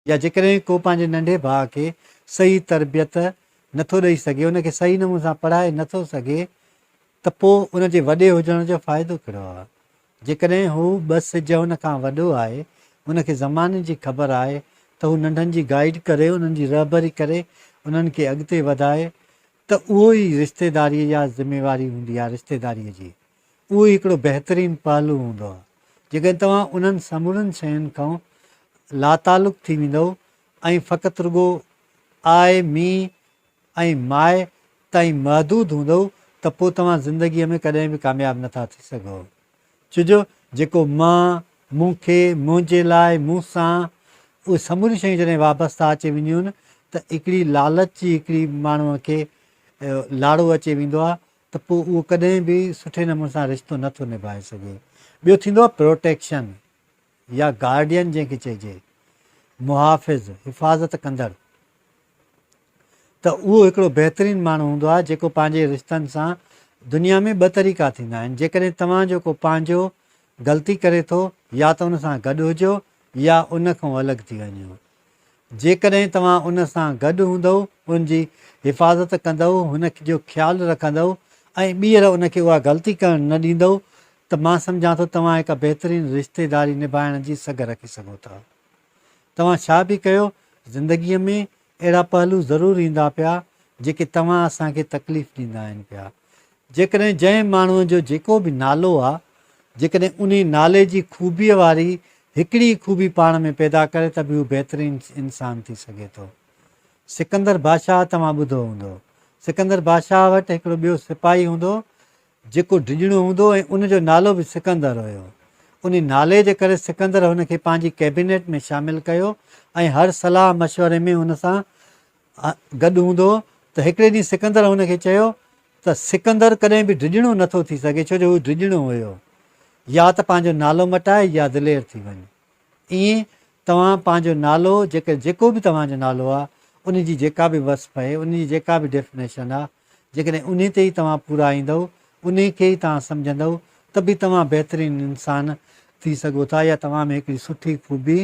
يا جيڪڏهن ڪو پنهنجي ننڍي ڀاء کي صحيح تربيت نه ٿو ڏئي سگهي، ان کي صحيح نموني سان پڙهائي نه ٿو سگهي ته پوء ان جي وڏي هجڻ جو فائدو ڪهڙو آهي؟ جيڪڏهن هو ٻه سج هن کان وڏو آهي، ان کي زماني جي خبر آهي ته هو ننڍن جي گائيڊ ڪري، انهن جي رهبري ڪري، انهن کي اڳتي وڌائي ته اهو ئي رشتيداريء يا ذميواري هوندي آهي رشتيداريء جي. اهو ئي هڪڙو بهترين پهلو هوندو آهي. جيڪڏهن توهان انهن سمورين شين کان لاتعلق ٿي ويندؤ ۽ فقط رڳو آء، مي ۽ ماء تائين محدود هوندؤ ته پوء توهان زندگيء ۾ ڪڏهن به ڪامياب نه ٿا ٿي سگهو. ڇوجو جيڪو مان، مون کي، منهنجي لاء، مون سان، اهي سموريون شيون جڏهن وابسته اچي وينديون آهن ته هڪڙي لالچ جي هڪڙي ماڻهوء کي لاڙو اچي ويندو آهي ته پوء اهو ڪڏهن به سٺي نموني سان رشتو نه ٿو نڀائي سگهي. ٻيو ٿيندو آهي پروٽيڪشن يا گارڊين جنهن کي چئجي، محافظ، حفاظت ڪندڙ، ته اهو هڪڙو بهترين ماڻهو هوندو آهي جيڪو پنهنجي رشتن سان دنيا ۾ ٻه طريقا ٿيندا آهن جيڪڏهن توهان جو ڪو پنهنجو غلطي ڪري ٿو يا ته ان سان گڏ هجو يا ان کان الڳ ٿي وڃو. جيڪڏهن توهان ان سان گڏ هوندؤ، ان جي حفاظت ڪندؤ، هن جو خيال رکندؤ ۽ ٻيهر ان کي اها غلطي ڪرڻ نه ڏيندؤ ته مان سمجهان ٿو توهان هڪ بهترين رشتيداري نڀائڻ جي سگهه رکي سگهو ٿا. توهان ڇا به ڪيو، زندگيء ۾ اهڙا پهلو ضرور ايندا پيا، جيڪي توهان اسان کي تڪليف ڏيندا آهن پيا. جيڪڏهن جنهن ماڻهوء جو جيڪو به نالو آ، جيڪڏهن انهي نالي جي خوبيء واري هڪڙي ئي خوبي پاڻ ۾ پيدا ڪري ته به هو بهترين انسان ٿي سگهي ٿو. سڪندر بادشاهه توهان ٻڌو هوندو. سڪندر بادشاهه وٽ هڪڙو ٻيو سپاهي هوندو هو، جيڪو ڊڄڻو هوندو هو ۽ ان جو نالو به سڪندر هيو. انهي نالي جي ڪري سڪندر هن کي پنهنجي ڪيبينيٽ ۾ شامل ڪيو ۽ هر صلاح مشوري ۾ هن سان گڏ هوندو هو ته هڪڙي ڏينهن سڪندر هن کي چيو ته سڪندر ڪڏهن به ڊڄڻو نه ٿو ٿي سگهي ڇو جو هو ڊڄڻو هيو. يا ته پنهنجو نالو مٽاء يا دلير ٿي وڃ. ائين توهان پنهنجو نالو جيڪر جيڪو به توهان جو نالو آهي ان جي جيڪا به وصف آهي ان جي جيڪا به ڊيفنيشن آهي جيڪڏهن انهي تي ئي توهان پورا ايندؤ انهي کي ئي توهان سمجهندؤ ته به توهان بهترين انسان ٿي سگهو ٿا يا توهان ۾ هڪڙي سٺي خوبي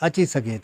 اچي سگهي ٿي.